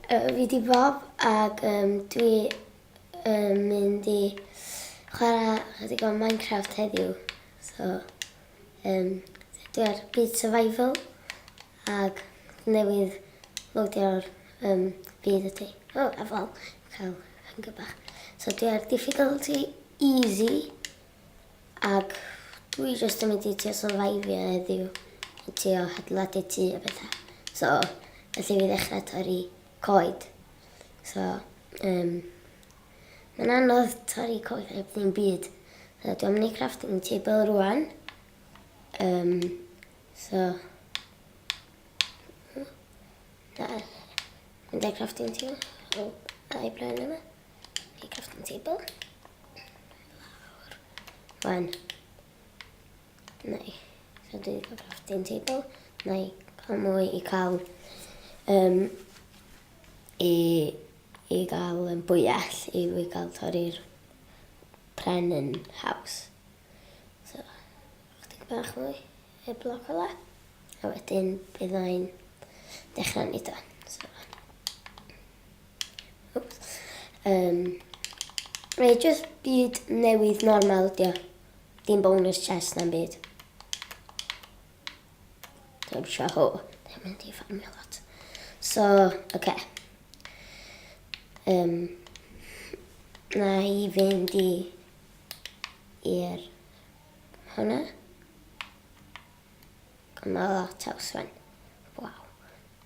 Fi di Bob ac um, dwi yn mynd i chwarae chydig o Minecraft heddiw. So, um, dwi ar byd survival ac newydd lodio'r um, byd ydy. O, oh, efo, cael hynga bach. So dwi ar difficulty easy. Ac dwi jyst yn mynd i trio syrfaifio heddiw a trio hadeiladu tŷ a betha. So, felly fi ddechrau torri coed. So, um, mae'n anodd torri coed heb ddim byd. So, dwi'n mynd i crafting table rwan. Um, so, da, mynd i crafting table. Oh, da i blaen yma. Neu crafting table. Wan. Neu. So dwi'n cael crafting table. Neu cael mwy i cael... Um, I, i gael um, bwyell i fi gael torri'r pren yn haws. So, chdig bach mwy y bloc ola. A wedyn byddai'n dechrau nid o. So, Yym, mae just byd newydd normal dio. Dim bonus chest na'm byd. Dim sio ho. Dim mynd i ffarmio lot. So, oce. Okay. Um, na i fynd i i'r hwnna. Mae lot o swen. Waw.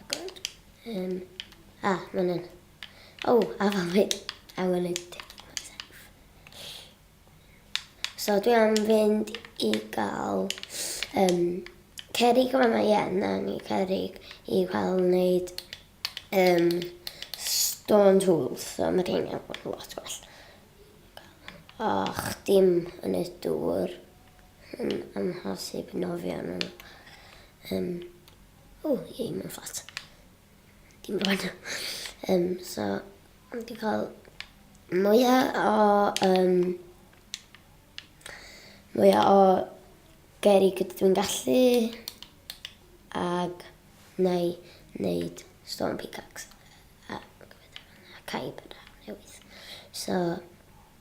Agwyd. Um, a, ah, mae'n un. O, oh, a fan fi. A wel i ti. So dwi am fynd i gael um, cerig yma mae ien, na ni cerig i cael wneud um, stone tools, so mae rhain yn bod yn lot gwell. Och, dim yn y dŵr. Yn amhosib nofio arnyn nhw. Um, o, ie, mae'n fflat. Dim rwan. Um, so, ond di cael mwyaf o... Um, mwyaf o geri gyda dwi'n gallu. Ac na i wneud stone pickaxe. A, a caib yna newydd. So,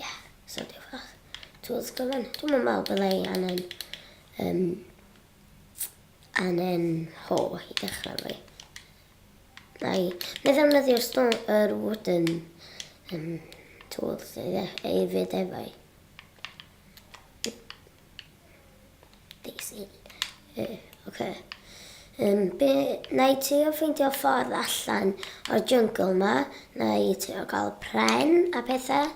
yeah, so diolch fach. Tools gyfan. Dwi'n yn meddwl byddai angen... Um, angen ho i dechrau fi. Na i. Na ddefnyddio'r stone, yr wooden um, tools ei fyd efo i. Daisy. Yy, oce. Yym, be... Wna i trio ffeindio ffordd allan o'r jungle 'ma. Wna i trio gael pren a pethau.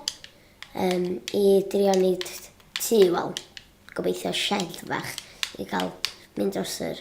Yym, i drio wneud tŷ, wel, gobeithio shed fach i gael mynd dros yr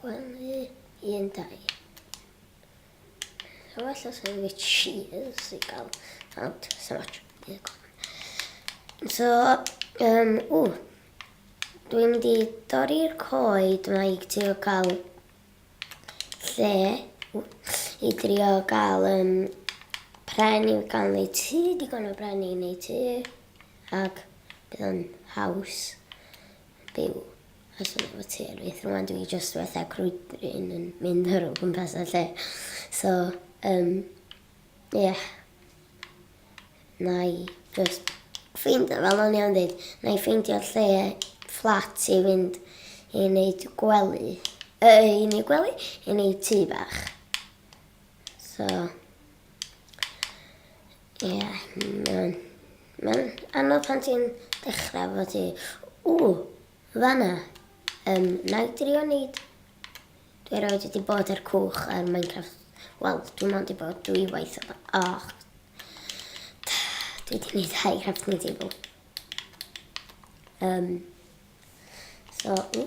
Gwely un dau. So well os yw fi cheers i gael out. So much. So, um, o, dwi'n mynd i dorri'r coed mae i trio cael lle i drio gael um, pren i'w gael neu ti, digon o bren i neu ti, ac bydd yn haws byw. Os o'n i efo ti ar fyth rwan dwi jyst fatha crwydrin yn mynd ar o gwmpas y lle. So yym ie. Nai jyst ffeindio fel o'n i'n deud, nai ffeindio lle fflat i fynd i neud gwely. Yy i neud gwely? I neud tŷ bach. So Ie, mae'n mae'n anodd pan ti'n dechrau fod ti, o, fanna, um, na i drio wneud. Dwi roed wedi bod ar cwch ar Minecraft. Wel, dwi'n ond i bod dwy waith o Och. Dwi wedi gwneud high crafting table. Um, so, o.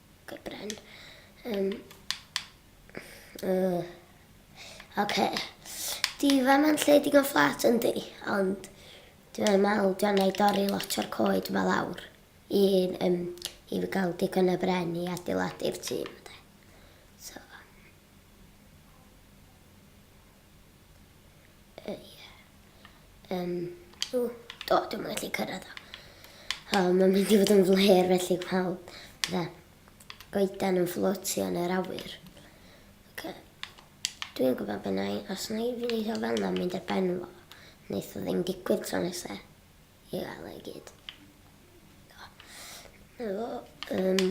Ok bren. Um, uh, ok. Di fe mae'n lle digon fflat yn di, ond dwi'n meddwl dwi'n ei dorri lot o'r coed yma lawr i, um, i fi gael digon o bren i adeiladu'r tîm. So. Yy, ie. Yym, o, do, dwi'n mynd gallu cyrraedd o. O, mae'n mynd i fod yn flêr felly pawb. Fe, goedan yn fflotio yn yr awyr. Ok. Dwi'n gwybod beth na i, os na i fi wneud o fel na, mynd ar ben fo. Wneith o ddim digwydd tro nesaf. I gael e gyd. Na fo. Um,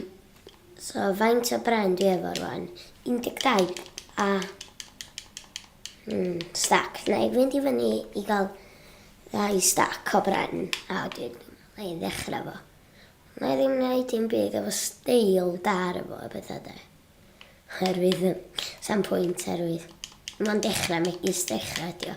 so, faint o bren dwi efo rwan? 12. A... Mm, stac. Na, i fynd i fyny i gael ddau stac o bren. A wedyn, na i ddechrau fo. Na i ddim gwneud dim byd efo steil dar efo a bethau da. Herwydd, sam pwynt herwydd. Mae'n dechrau megis dechrau, dio.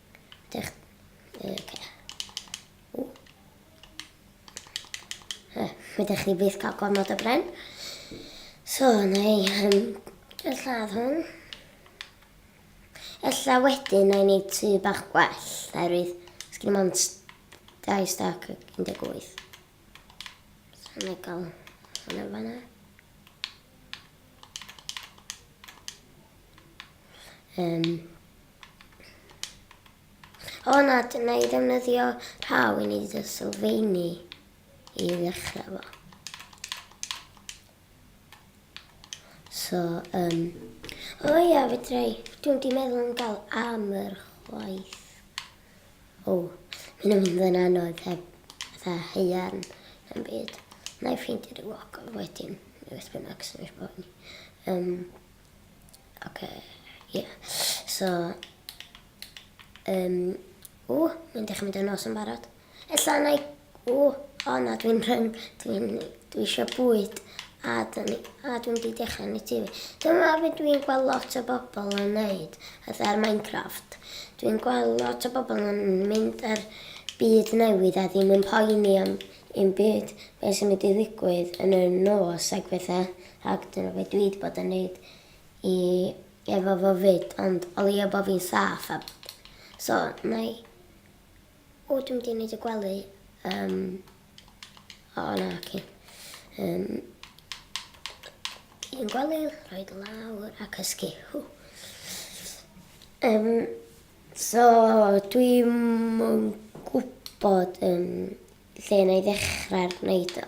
Dech... Oce. O. Eh, fe dech chi byth cael gormod o bren. So, na i... Um, Dwi'n lladd hwn. Ella wedyn na i wneud tu bach gwell, oherwydd sgyn o'n dau stac 18. So na i gael hwnna fanna. Um, O na, dyna i ddefnyddio rhaw i wneud y sylfeini i ddechrau fo. So, um, o ia, fedra i, dwi'n di meddwl am gael am yr chwaith. O, mi'n mynd yn anodd heb fatha heian yn byd. Na i ffeindio dy wog wedyn, neu beth bynnag sy'n eich bod ni. Um, Oce, ie. So, um, o, mae'n dechrau mynd yn nos yn barod. Ella na i, o, o na, dwi'n rhywun, dwi'n, dwi eisiau bwyd a dwi'n dwi wedi dechrau yn y TV. Dyma fe dwi'n gweld lot o bobl yn neud, fatha ar Minecraft. Dwi'n gweld lot o bobl yn mynd ar byd newydd a ddim yn poeni am un byd beth sy'n mynd i ddigwydd yn y nos ac bethau. Ac dyna be dwi 'di bod yn neud i efo fo 'fyd ond o leia bo fi'n saff a bod so nai O dwi mynd i neud y gwely yym o na oce yym un gwely rhoi dy lawr a cysgu hw yym so dwi yn gwbod yym lle 'na i ddechra neud o.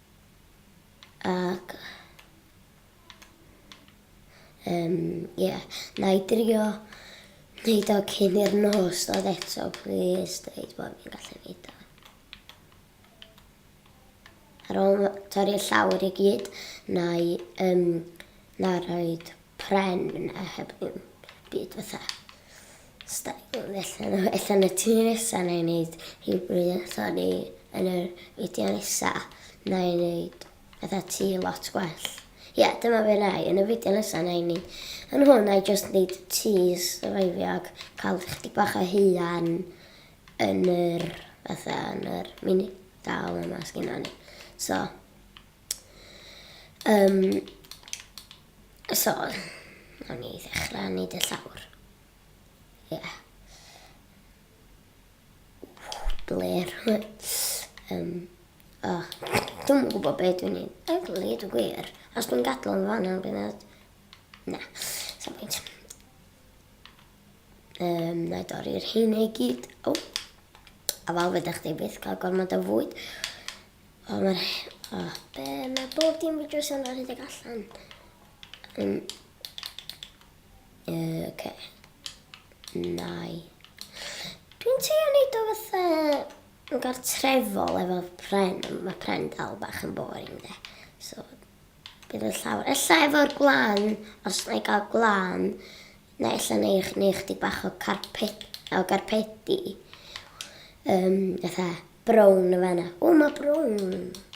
Ac um, ie, yeah. na i drio wneud o cyn i'r nos dod eto, please, dweud bod fi'n gallu wneud o. Ar ôl torri'r llawr i gyd, na i um, na roed pren a heb ddim byd fatha style ella na ella yn y tŷ nesa nâi neud rhywbryd yn sori yn yr fideo nesa nâi neud fatha tŷ lot gwell. Ie, dyma fe nai, yn y fideo nesa nâi ni. Yn hwn nâi jyst neud tŷ survivio ac cael chydig bach o huan yn yr fatha yn yr mini dal yma sgynnon ni. So, Um, so, o'n i ddechrau wneud y llawr. Ie. Yeah. Bler. um, o, dwi'n gwybod beth dwi'n ei. Dwi'n gwneud y gwir. Os dwi'n gadw yn fan o'n gwneud. Na, sa'n pwynt. Um, na i dorri'r hyn ei gyd. O. A fel fydda chdi byth cael gormod o fwyd. O ma'r he- o. Be ma bob dim yn drws yma rhedeg allan. Yn... Yy oce. Nai. Dwi'n teimlo neud o fatha yn gartrefol efo pren, mae pren dal bach yn boring de. So bydd y llawr, ella efo'r gwlan, os na i gael gwlan, Neu ella neu neu chdi bach o carpet o garpedi um, fatha brown y fanna. O, mae brown.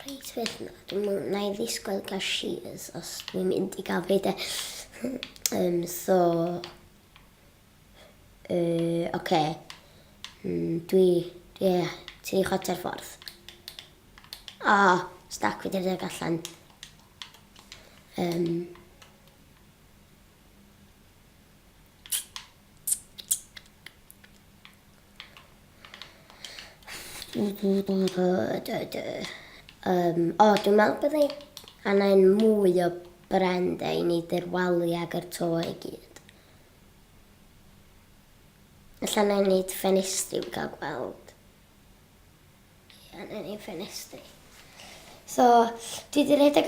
Reit fydd na. Dwi'n na i ddisgwyl gael shears os dwi'n mynd i gael fi de. um, so... Uh, oce. Okay. Mm, dwi... Dwi... Yeah, ti i chota'r ffordd. O, oh, stac fi dyrdig allan. Um, Yym, o, dwi'n meddwl bod ni angen mwy o brende i ni ddirwalu ag yr to i gyd. Alla na i wneud ffenestri i gael gweld. Ia, na i wneud ffenestri. So, dwi wedi rhedeg